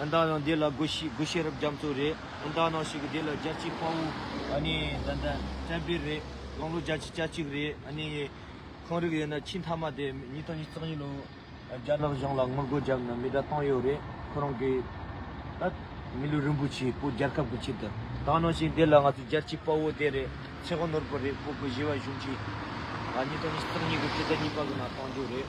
ཨ་མདའ་ནང་འདི་ལ་སྒོ་ཤི་སྒོ་ཤེས་རབ་རྒྱ་མཚོ་རེད་ཨ་མདའ་ནང་ཞིག་གི་འདི་ལ་རྒྱ་སྐྱིད་དཔའ་བོ་ཨ་ནི་ད་ལྟ་བཙན་པིར་རེད་སྟོང་ལོ་བརྒྱ་ཆི་གྱ་གཅིག་རེད་ཨ་ནི་ཁང་རིག་ཡོད་ན་ཁྱི་མཐའ་མ་དེ་ཉིས་སྟོང་ཉིས་བརྩེགས་ཉིས་ལོ་བརྒྱ་རག་གཞུང་ལ་ངོ་རྒོལ་རྒྱབ་ན་མི་དགྲ་སྟོང་ཡོད་རེད་ཁོ་རང་གི་ཨ་མི་ལུས་རིན་པོ་ཆེའི་སྤུ་རྒྱལ་ཁབ་ཀྱི་ཆེད་དུ་བཏང་ནང་ཞིག་འདི་ལ་ང་ཚོ་རྒྱ་སྐྱིད་དཔའ་བོ་དེ་རེད་ཆེ་གོ་ནོར་བུ་རེད་ཁོ་གོ་བཞི་བ་གཞུང་གིས་ང་ཉིས་སྟོང་ཉིས་བརྩེགས་ཉིས་གོ་བཅུ་རྩ་གཉིས་པ་གི་ནང་བཏང་རྒྱུ་རེད།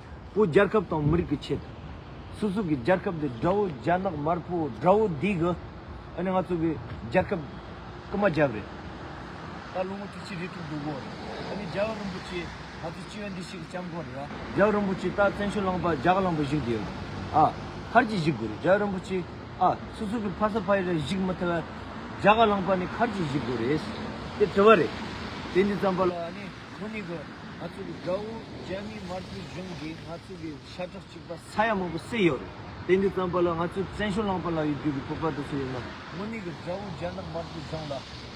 བོ་རྒྱལ་ཁབ་དང་མི་རིགས་ཀྱི་ཆེད་དུ། སུ་ཟུག་གི་རྒྱལ་ཁབ་འདི་དགྲ་བོ་རྒྱ་ནག་དམར་པོ་དགྲ་བོ་འདི་གི། ཨ་ནི་ང་ཚོ་གི་རྒྱལ་ཁབ་རྐུ་མ་རྒྱབ་རེད། ད་ལོ་ངོ་དྲུག་ཅུ་རེ་དྲུག་འདུག་གོ། ཨ་ནི་རྒྱལ་བ་རིན་པོ་ཆེ་ང་ཚོ་སྤྱི་བའི་འདི་ཞིག་གི་སྐྱབས་མགོན་རེད་ཨ། རྒྱལ་བ་རིན་པོ་ཆེ་ད་བཙན་བྱོལ་ལངས་པར་རྒྱ་གར་ལངས་པར་གཞིགས་དགོས་ཡོད་རེད་ཨ། མཁར་གྱིས་གཞིགས་དགོས་རེད་རྒྱལ་བ་རིན་པོ་ཆེ་ཨ། སུ་ཟུག་གི་ཕ་ས་ཕ་ཡི་རེ་གཞིགས་མི་ཐུབ་བས། རྒྱ་གར་ལངས་པར་ནི་མཁར་གྱིས་གཞིགས་དགོས་རེད། དེ་དྲི་བ་རེད། དེ་འདི་ཙམ་པ་ལ་ཨ་ནི། ཁོ་གཉིས་ཀྱིས་ང་ཚོ་གི་དགྲ་བོ་རྒྱ་མིའི་དམར་པོའི་གཞུང་གིས་ང་ཚོ་གི་ཤ་ཁྲག་གཅིག་པ་ས་ཡ་མང་པོ་བསྲེགས་ཡོད་རེད། དེ་འདི་ཙམ་པ་ལ་ང་ཚོས་བཙན་བྱོལ་རླངས་པ་ལ་ཡོད་རྒྱུ་གི་སྤོབས་པ་དེ་ཚོ་ཡོད་ན། ཁོ་གཉིས་ཀྱིས་དགྲ་བོ་རྒྱ་ནག་དམར་པོའི་གཞུང་ལ་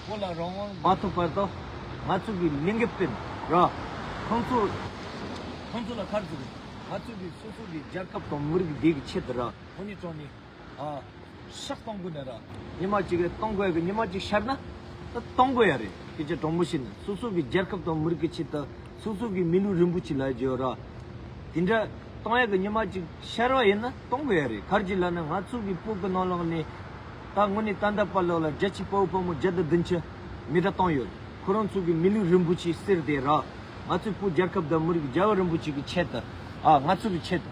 བོད་ལ་རང་དབང་མ་ཐོབ་བར་དུ་ང་ཚོ་གི་ལིང་གེ་སྤེན་ར་ཁོང་ཚོ་ཁོང་ཚོ་ལ་ཁ་རྩོད་དགོས། ང་ཚོ་གི་སོ་སོ་གི་རྒྱལ་ཁབ་དང་མི་རིགས་བདེ་གི་ཆེད་དུ་ར་ཁོ་གཉིས་དྲངས་ནས། ཤག་སྟོང་དགོས་ནས་ར། ཉི་མ་གཅིག་གི་སྟོང་དགོས་གི་ཉི་མ་གཅིག་ཤར་ན། སྟོང་དགོས་ཡ་རེད་སྐད་ཆ་དྲང་པོ་བཤད་ནས་སོ་སོ་གི་རྒྱལ་ཁབ་དང་མི་རིགས་ཀྱི་ཆེད་དུ་སོ་སོ་གི་མི་ལུས་རིན་པོ་ཆེ་ལ་བརྗོད་ར། དེ་འདྲ་སྟོང་ཡ་གི་ཉི་མ་གཅིག་ཤར་བ་ཡིན་ན་སྟོང་དགོས་ཡ་རེད་གར་གྱི་ལ་ནི་ང་ཚོ་གི་སྤུ་གི་ནང་ལོག་ནས། ད་དངོས་ནས་ཏན་ཏན་པར་ལོག་ལ་རྒྱ་ཆེ་དཔའ་བོ་དཔའ་མོ་བརྒྱ་དང་བདུན་ཅུ་མི་དྲག་སྟོང་ཡོད་ཁོ་རང་ཚོ་གི་མི་ལུས་རིན་པོ་ཆེ་གསེར་དེ་ར། ང་ཚོའི་སྤུ་རྒྱལ་ཁབ་དང་མི་རིགས་རྒྱལ་བ་རིན་པོ་ཆེ་གི་ཆེད་དུ། ང་ཚོ་གི་ཆེད་དུ།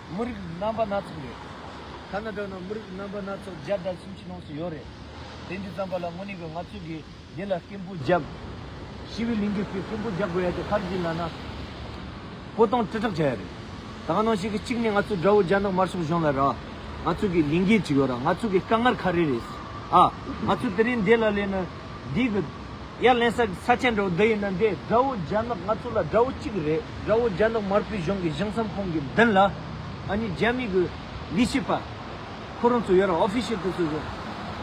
མི་རིགས་རྣམ་པ་སྣ་ཚོགས་ཡོད། ཐ་ན་དྲག་ན་མི་རིགས་རྣམ་པ་སྣ་ཚོགས་བརྒྱ་དང་སུམ་ཅུ་ལོངས་སུ་ཡོད་རེད། དེ་འདི་ཙམ་པ་ལ་དངོས་གནས་ཀྱི་ང་ཚོས་དགེ་རྒན་ལ་སྐད་འབོད་རྒྱག་དགོས། ཤི་བའི་ལིང་གེ་ཚོས་སྐད་འབོད་རྒྱག་དགོས་ཡ་དེ་ཕར་འཛིན་ལ་ན། བཀོད་གཏོང་དྲིལ་བསྒྲགས་བྱ་ཡ་རེད། ད་གང་ནང་ཞིག་གི་གཅིག་ནས་ང་ཚོ་དགྲ་བོ་རྒྱ་ནག་དམར་ཤོག་གཞུང་ལ་ར། ང་ཚོ་གི་ལིང་གེ་གཅིག་ཡོད་ར་ང་ཚོ་གི་དཀའ་ངར་ཁ་རེ་རེད། ཨ། ང་ཚོ་དེ་རིང་འདས་ལ་ལས་ན། འདི་གི། ཡར་ལེན་ས་ཆེན་དགྲ་བོ་འདི་ཡིན་ན་འདི་དགྲ་བོ་རྒྱ་ནག་ང་ཚོ་ལ་དགྲ་བོ་གཅིག་རེད་དགྲ་བོ་རྒྱ་ནག་དམར་པོའི་གཞུང་གི་གཞུང་ས་ཁོང་གི་མདུན་ལ་ཨ་ནི་རྒྱ་མི་གི་ལི་ཤི་པ་ཁོ་རང་ཚོ་ཡོད་ར official དེ་ཚོ་ཡོད་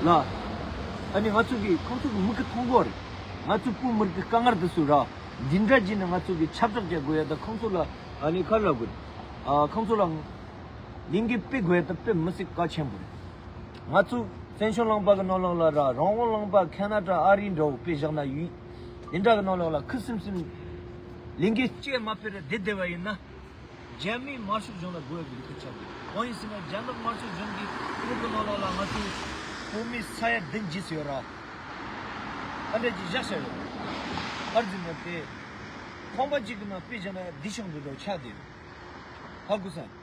ལ་ཨ་ནི་ང་ཚོ་གི་ཁོང་ཚོ་གི་མི་གི་མཐོང་གོ་རེད་ང་ཚོ་བོད་མིར་གི་དཀའ་ངར་དེ་ཚོ་ར་འདི་འདྲ་གྱིས་ནི་ང་ཚོ་གི་ཆབ་སྒྲག་བྱ་དགོས་ཡ་ད་ཁོང་ཚོ་ལ་ཨ་ནི་ཁ་ལ་དགོས་རེད་ཨ་ཁོང་ཚོ་ལ་ལིང་གི་དཔེ་དགོས་ཡ་ད་དཔེ་མི་སྲིད་དཀའ་ཆེན་པོ་རེད། ང་ཚོས་བཙན་བྱོལ་གླང་པ་གི་རྣོ་ལག་ལ་ར་རང་དབང་གླང་པ་ཁ་ན་ཏྲ་ཨ་རི་འདྲ་བོ་དཔེ་བཞག་ན་ཡུས་འདི་འདྲ་གི་རྣོ་ལག་ལ་ཁུ་སིམ་སིམ་ལིང་གེ་སྐྱེས་མ་ཕེར་བདེ་བདེ་བ་ཡིན་ན། རྒྱ་མིའི་དམར་ཤོག་གཞུང་ལ་རྒོལ་བའི་ལུས་ཁུར་བྱ་དགོས། གང་ཡིན་ཟེར་ན་རྒྱ་ནག་དམར་ཤོག་གཞུང་གི་དབུས་ཀྱི་རྣོ་ལག་ལ་ང་ཚོའི་བོད་མིའི་ས་ཡ་བདུན་བརྗེས་སུ་ཡོད་ར། ཨ་འགྲས་ཀྱིས་བཞག་བཞག་ཡོད། ཨར་འཛིན་མེད་པ་དེས། ཁང་པ་གཅིག་གི་ནང་དཔེ་བཞག་ན་འདི་ཤོག་འདི་འདྲ་བོ་ཆགས་བསྡད་ཡོད། ཧ་གོ་ས།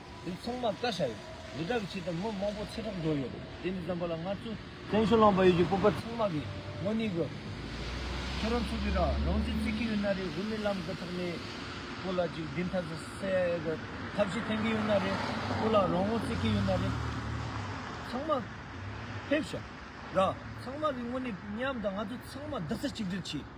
དེ་ཚང་མ་བཀའ་ཤག་ཡིན། རི་བྲག་གི་ཆེད་དུ་མི་མང་པོ་ཚེ་ཐོག་འགྲོ་ཡོད། དེ་མི་ཙམ་པ་ལ་ང་ཚོ་བཙན་བྱོལ་ལངས་པ་ཡོད་ཀྱི་སྤོབས་པ་ཚང་མ་གིས་དངོས་གནས་གོ། ཁྱེད་རང་ཚོ་གིས་རང་རང་ཚོའི་རྩེ་གི་ཡོད་ན་རེ་བོད་མི་ལམ་གི་ཐོག་ནས་སྐོར་ལ་ཅིག་བདེན་མཐའ་ཟེར་ས་ཡ་གི་ཐབས་ཤེས་འཐེན་གི་ཡོད་ན་རེ་སྐོར་ལ་རང་རང་རྩེ་གི་ཡོད་ན་རེ་ཚང་མ་ཕེབས་ཤག་ར། ཚང་མ་གིས་དངོས་གནས་མཉམ་དང་ང་ཚོ་ཚང་མ་རྡག་རྩ་གཅིག་སྒྲིལ་གྱིས།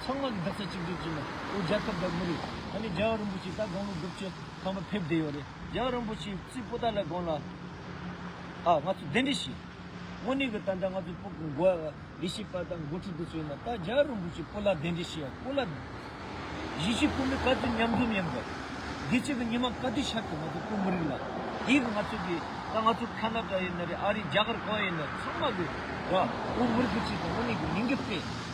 ཚང་མ་གི་འདག་ཆ་གཅིག་སྒྲིལ་བྱས་ན་ཨོ་རྒྱལ་ཁབ་དང་མི་རིགས་ད་ནི་རྒྱལ་བ་རིན་པོ་ཆེ་ད་དགོང་ལོ་དགུ་བཅུ་ཐམ་པ་ཕེབས་བསྡད་ཡོད་རེད་རྒྱལ་བ་རིན་པོ་ཆེའི་རྩིས་སྤོ་ད་ལས་དགོང་ལ་ཨ་ང་ཚོ་གདན་འདྲེན་བྱས། དངོས་གནས་གི་ད་ལྟ་ང་ཚོ་སྤོ་དགོས་ཨ་ལས་བྱེད་པ་དང་འགོ་ཁྲིད་དེ་ཚོ་ཡིན་ན་ད་རྒྱལ་བ་རིན་པོ་ཆེ་སྤོ་ལ་གདན་འདྲེན་བྱས་ཡ་སྤོ་ལ་གཞིས་བྱེས་ཁོ་མོའི་ག་ཚོད་མཉམ་འཛོམས་ཡིན་དགོས་དགེ་བྱེད་ཀྱི་ཉི་མ་ག་དུས་ཤར་ཏེ་ང་ཚོ་སྤོ་མི་རིགས་ལ་དེའི་གི་ང་ཚོ་གི་ད་ང་ཚོ་ཁ་ན་ད་ཡིན་ན་རེད་ཨ་རིའི་རྒྱ་གར་གང་ཡིན་ན་ཚང་མ་གི་ཨོ་མི་རིགས་གི་ཆེད་དུ་དངོས་གནས་གི་མི་འགེབས་པས།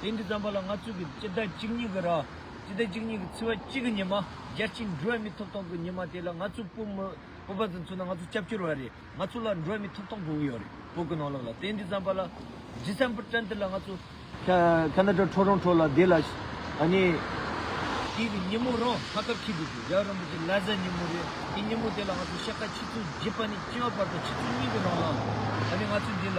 དེང་གི་རྩམ་པ་ལ་ང་ཚོས་ཀྱི་སྤྱི་ཟླ་གཅིག་གཉིས་ཀྱི་ར། སྤྱི་ཟླ་གཅིག་གཉིས་ཀྱི་ཚི་བ་གཅིག་གི་ཉི་མ། རྒྱལ་སྤྱིའི་འགྲོ་བ་མི་ཐོབ་ཐང་གི་ཉི་མ་དེ་ལ་ང་ཚོས་སྤོ། སྤོབས་པ་དང་མཚོན་ན་ང་ཚོ་སྐྱབས་བཅོལ་བ་རེད་ང་ཚོ་ལ་འགྲོ་བ་མི་ཐོབ་ཐང་དགོས་ཀྱི་ཡོད་རེད་བོད་ཀྱི་ནང་ལོགས་ལ་དེང་གི་རྩམ་པ་ལ། December twenty ལ་ང་ཚོ། ཁ་ན་ཏྲ་ཁྲོ་རོང་ཁྲོ་ལ་དེ་ལ། དེང་གི་ཉིན་མོ་རང་ཁ་ཁབ་ཁྱི་དུས་དུས་རྒྱལ་བ་རིན་པོ་ཆེ་ལ་གཟའ་ཉིན་མོ་རེད་དེ་ཉིན་མོ་དེ་ལ་ང་ཚོ་ཤ་ཁ་ཆུ་ཚོད་བཞི་པ་ནས་བཅུ་བ་བར་དུ་ཆུ་ཚོད་གཉིས་ཀྱི་ནང་ལོགས་ལ། ང་ཚོས་དེ་ལ།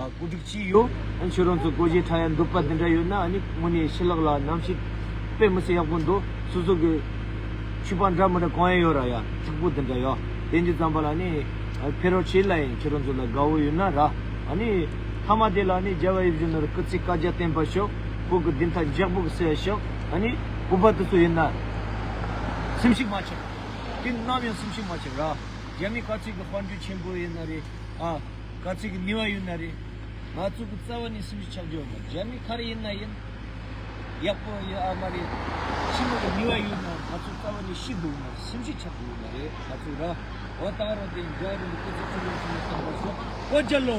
བཀོད་སྒྲིག་བགྱིས་ཡོད། ཁྱོད་རང་ཚོའི་བཀོད་ཇའི་ཕྲ་ཡང་འདོད་པ་འདི་འདྲ་ཡོད་ན་ནི་དངོས་ནས་ཤི་ལགས་ལ་ནམ་ཞིག་དཔེ་མི་སྲིད་ཡག་པོ་འདུག་སོ་སོ་གི་ཆུས་པ་འདྲ་མི་འདྲ་གང་ཡང་ཡོད་ར་ཡ་ཚིག་པོ་འདི་འདྲ་ཡ་དེ་འདྲ་ཙམ་པ་ལ་ནི་ཕེ་རོག་བྱེད་སླ་ཡིན་ཁྱོད་རང་ཚོ་ལ་དགའ་བོ་ཡོད་ན་ར་ཨ་ནི་མཐའ་མ་དེ་ལ་ནི་རྒྱལ་བ་ཡེ་བཞུགས་ནོར་སྐུ་ཚེ་བཀའ་རྒྱ་བརྟན་པར་ཤོག་བོད་ཀྱི་བདེན་མཐའ་འཇགས་པོ་གསལ་བར་ཤོག་ཨ་ནི་བོད་པ་དེ་ཚོ་ཡིན་ན་སེམས་ཤུགས་མ་ཆགས་དེ་ནམ་ཡང་སེམས་ཤུགས་མ་ཆགས་ར་རྒྱ་མི་བཀའ་ཁྲི་གི་དཔར་འགྲོས་ཆེན་པོ་ཡིན་ན་རེ་ཨ། དཀའ་ཚེགས་ཀྱི་ནུས་བ་ཡོད་ན་རེད། ང་ཚོ་གི་རྩ་བ་ནས་སེམས་ཤུགས་ཆག་འཇོག་དང་རྒྱ་མི་ག་རེ་ཡིན་ན་ཡིན། ཡག་པོ་ཡོད་ཨ་མ་རེད། ཕྱི་མོ་གི་ནུས་བ་ཡོད་ན་ང་ཚོ་རྩ་བ་ནས་ཤི་འདུག་མར་སེམས་ཤུགས་ཆག་གི་ཡོད་མ་རེད་ང་ཚོ་ར་བ་བཏང་རོགས་དེ་ཡིན་རྒྱ་རི་མི་སྐུ་ཚེ་ཆུ་ལོན་ཆུ་ལོན་བསམ་པ་སོགས་བཀོད་རྒྱ་ལོ།